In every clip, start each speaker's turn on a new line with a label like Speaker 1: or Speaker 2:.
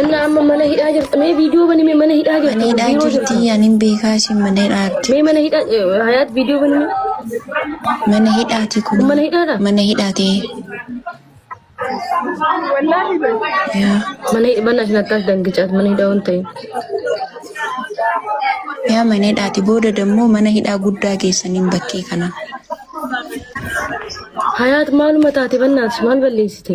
Speaker 1: Inna amma mana hidhaa jirta. Mee viidiyoo bani mee mana hidhaa jirta. Mana hidhaa Biiroo jirta. jirtii
Speaker 2: anin beekaa isin mana hidhaatti. Mee mana hidhaa eh,
Speaker 1: hayaat viidiyoo bani mee. Mana
Speaker 2: hidhaati kun. Kun mana hidhaadha? Mana
Speaker 1: hidhaati.
Speaker 2: Yaa. Mana hidhaa bana isin
Speaker 1: akkas dangicaat mana hidhaa waan ta'eef.
Speaker 2: Yaa mana hidhaati booda dammoo mana hidhaa guddaa geessaniin bakkee kana.
Speaker 1: Hayaat maaluma taate bannaati maal balleessite?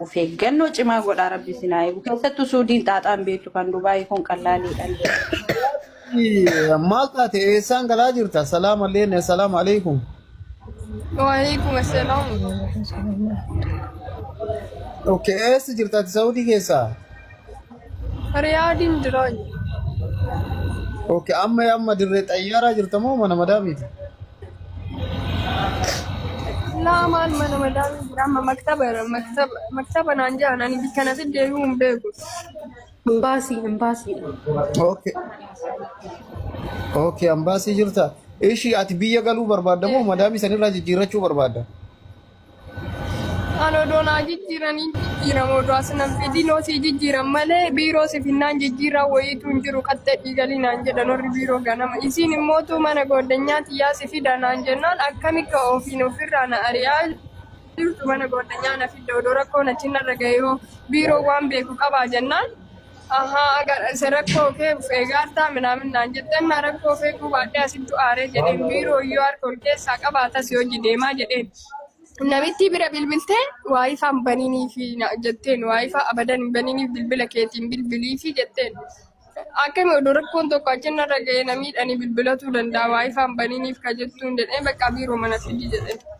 Speaker 3: Of eeggannoo cimaa godhaa rabbi isin haa eegu. Keessattuu suudiin xaaxaa hin beektu kan Dubaayii kun qallaaliidha. Ii,
Speaker 4: Maal taate eessaan galaa jirta? Salaam alleen, salaam alaikum. Waalaikum
Speaker 5: assalam.
Speaker 4: Okay, eessa jirta ati Saudii keessaa? Riyaadiin
Speaker 5: jiraa jiru.
Speaker 4: Okay, amma amma dirree xayyaaraa jirta moo mana madaamiiti?
Speaker 5: Laa maal mana madaamii jira amma maktaba irra maktaba maktaba naan jedhan ani bikka natti deebi'uu hin beeku. Imbaasii,
Speaker 3: imbaasiidha.
Speaker 4: Okay, okay, ambaasii jirta. Ishii ati biyya galuu barbaadda moo madaamii sanirraa jijjiirrachuu barbaadda?
Speaker 5: An odoo naa jijjiiranii jijjiirama odoo as nan fidin osii jijjiiran malee biiroo si finnaan jijjiirraa wayiitu hin jiru qaxxee dhiigalii naan jedhan warri biiroo ganama. Isiin immootu mana gooddanyaa tiyyaa si fida naan jennaan akkami ka ofiin ofirraa na ari'aa jirtu mana gooddanyaa na fidda odoo rakkoon achi narra gahee hoo biiroon waan beeku qabaa jennaan. Ahaa agarase rakkoo kee of eegaartaa minaamin naan jetteen naa rakkoo of eeguu baadhee asittu aaree jedheen biiroo iyyuu harka ol keessaa qaba atas hojii deemaa jedheen. Namittii bira bilbiltee waayifaa hin baniniifi naan jetteen waayifaa abadan hin baniniif bilbila keetiin bilbiliifi jetteen. Akkami odoo rakkoon tokko achi narra ga'ee na miidhanii bilbilatuu danda'a waayifaa hin baniniif ka jettuun jedhee baqqaa biiroo mana fidi jedheen.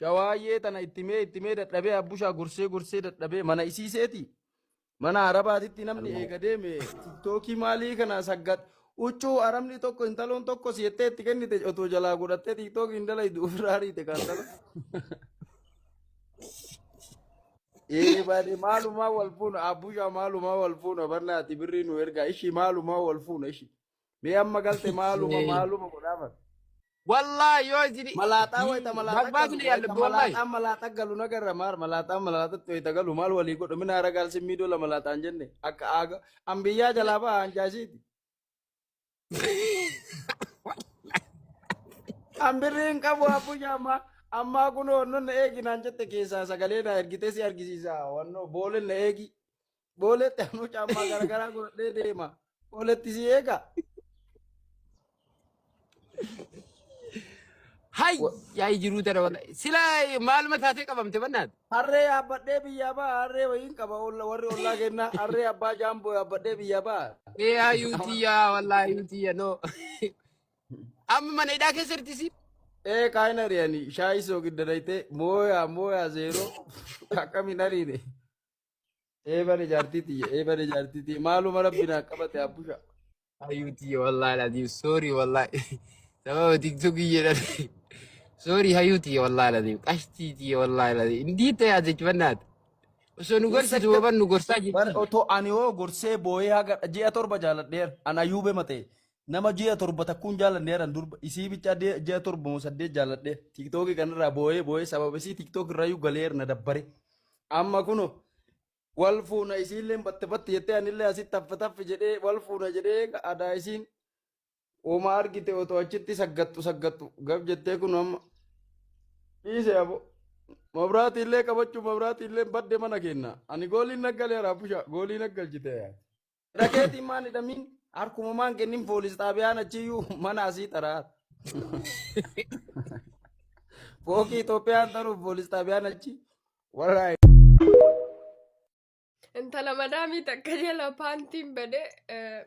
Speaker 6: Shawaayyee tana itti mee itti mee dadhabee abbushaa gorsee gorsee dadhabee mana isii seeti. Mana arabaatitti namni eega deeme tiktookii maalii kana saggat huccuu arabni tokko intaloon tokko si jettee itti kennite otoo jalaa godhattee tiktookii hin dalaydu ofirraa ariite kan tala. Ee baade maalumaa wal fuuna abbushaa maalumaa wal fuuna barnaati birrii nu ergaa ishii maalumaa wal fuuna ishii. Mee amma galte maaluma Ee. maaluma godhaa bar. Wallahi
Speaker 7: yoo isin Malaaxaa wayita malaaxaa
Speaker 6: Bagbaa galu bile yaalla wayita wallahi. malaaxaa malaaxaa galu nagarra maar malaaxaa malaaxatti wayita galu maal walii godhu mina hara gaalsi miidoo la malaaxaan jenne akka aaga an biyyaa jalaa ba'a an jaashiiti. An birrii hin qabu abbuja ammaa ammaa kun wannoon na eegi naan jette keessaa sagalee na ergitee si argisiisa wannoo booleen na eegi Booleetti ammoo caammaa garaagaraa godhee deema. Booleetti si eega.
Speaker 7: Hay yaa jiruu tana wala. Sila maaluma taatee qabamte bannaat. Harree yaabbadhee
Speaker 6: biyyaa ba'a. Harree wayiin qaba olla- warri ollaa kennaa. Harree abbaa jaamboo yaabbadhee biyyaa ba'a. Ee yaa yuutiyyaa
Speaker 7: wallaahi yuutiyya noo. Amma mana hidhaa keessa jirti si. Ee kaayina riyani
Speaker 6: shaayii soo gidda daytee mooyaa mooyaa zeeroo akkamiin ariine. Eebale jaartii tiyya eebale jaartii tiyya maaluma rabbi naa qabate abbusha. Ayyuu tiyya
Speaker 7: wallaahi laziim soorii wallaahi sababa tiktokii jedhan soorii hayyuu tiyya wallaahi laziim qashtii tiyya wallaahi laziim indii ta'e ajajbannaati osoo nu gorsitu Insecure waban nu gorsaa bar jirti. otoo ani hoo gorsee
Speaker 6: booyee haga ji'a torba jaaladheera an ayyuube matee nama ji'a torba takkuun jaalanne jedhan durba isii bichaa de- ji'a torba moo saddeet jaaladhe tiktookii kanarraa boo'ee boo'ee sababa isii tiktook irrayyuu galeer na dabbare amma kuno wal fuuna isiillee batte batte jettee anillee asitti taffa taffi jedhee wal fuuna jedhee adaa isiin homaa argite otoo achitti saggattu saggattu gab jettee kun amma dhiise abo mabraatii illee qabachuu mabraatii illee badde mana kenna ani gooliin naggaleera busha goolii naggalchite Dhageetiin maan hidhamiin harkuma maan kennin poolis xaabiyaan achiyyuu mana asii taraa. Fookii Itoophiyaan taruuf poolis xaabiyaan achi warra
Speaker 5: Intala madaamii takka jala paantiin badee eh,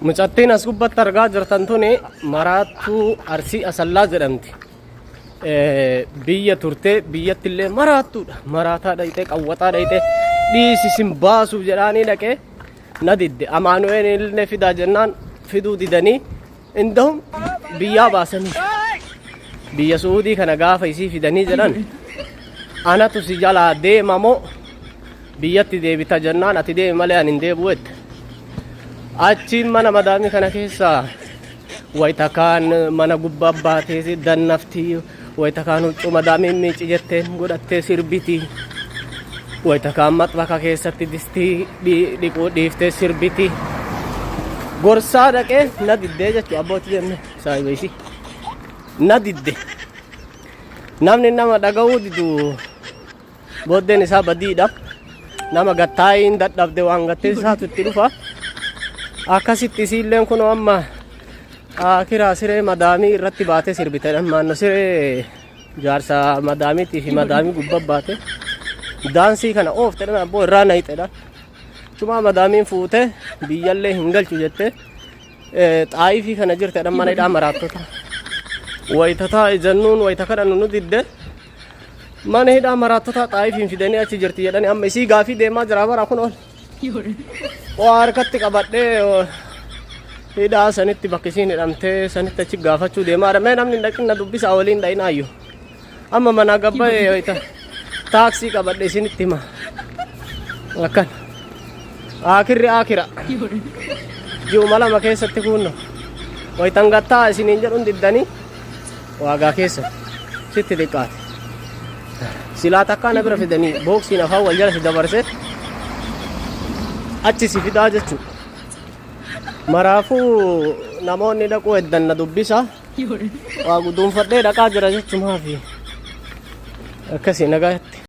Speaker 8: Mucattiin as gubbatti argaa jirtan tuni maraattuu Arsii Asallaa jedhamti. Eh, Biyya turtee biyyatti illee maraattuudha. Maraataa dhayxee qawwataa dhayxee dhiisi sin baasuuf jedhaanii dhaqee na didde. Amaanu'een illee fidaa jennaan fiduu didanii indahum biyyaa baasanii. Biyya Su'uudii kana gaafa isii fidanii jedhan anatu si jalaa deema moo Biyyatti deebita jennaan ati deemi malee ani hin deebi'u jette. Achiin mana madaamii kana keessa wayita kaan mana gubbaa baatee dannafti. Wayita kaan huccuu madaamii miici jetteen godhattee sirbiti. Wayita kaan maxbaka keessatti distii dhi- dhiquu dhiiftee sirbiti. Gorsaa dhaqee na diddee jechuudha abbootii jenne saahiba ishii. Na didde. Namni nama dhaga'uu didu Booddeen isaa badiidha. Nama gattaa'ee hin dadhabde waan gattee isaatu itti dhufa. Akkasitti isiilleen kunoo amma ah, kiraa siree madaamii irratti baatee sirbite. Maanno siree jaarsa madaamiitii fi madaamii gubbaa baate. Daansii kana ooftedhan abboo irraa nayixedha. Tumaa madaamiin fuutee biyyallee hin galchu jettee eh, xaayifii kana jirtedhan mana hidhaa maraattota. Wayitataa ijannuun wayita kadhannu nu didde Mana hidhaa maraattotaa xaayifiin fidanii achi jirti jedhani amma isii gaafii deemaa jira bara kun ol. Waa harkatti qabadhee oo, hidhaa sanitti bakka isiin hidhamtee sanitti achi gaafachuu deemaa jira. Mee namni hin dhaqin na dubbisaa waliin dhaqin ayyu. Amma manaa gabbayee yoo ta'e taaksii qabadhe isinitti hima. Akkan. Aakirri aakira. Ji'uma lama keessatti kuunno. Wayitan gattaa isiniin jedhuun diddanii. Waagaa keessa sitti xiqqaate. Silaa takkaa na bira fidanii booksiin afaan wal jala si dabarse achi si fidaa jechuudha. Maraafuu namoonni dhaquu eddan na dubbisa. Waa guduunfadhee dhaqaa jira jechumaafi akkasii nagaatti.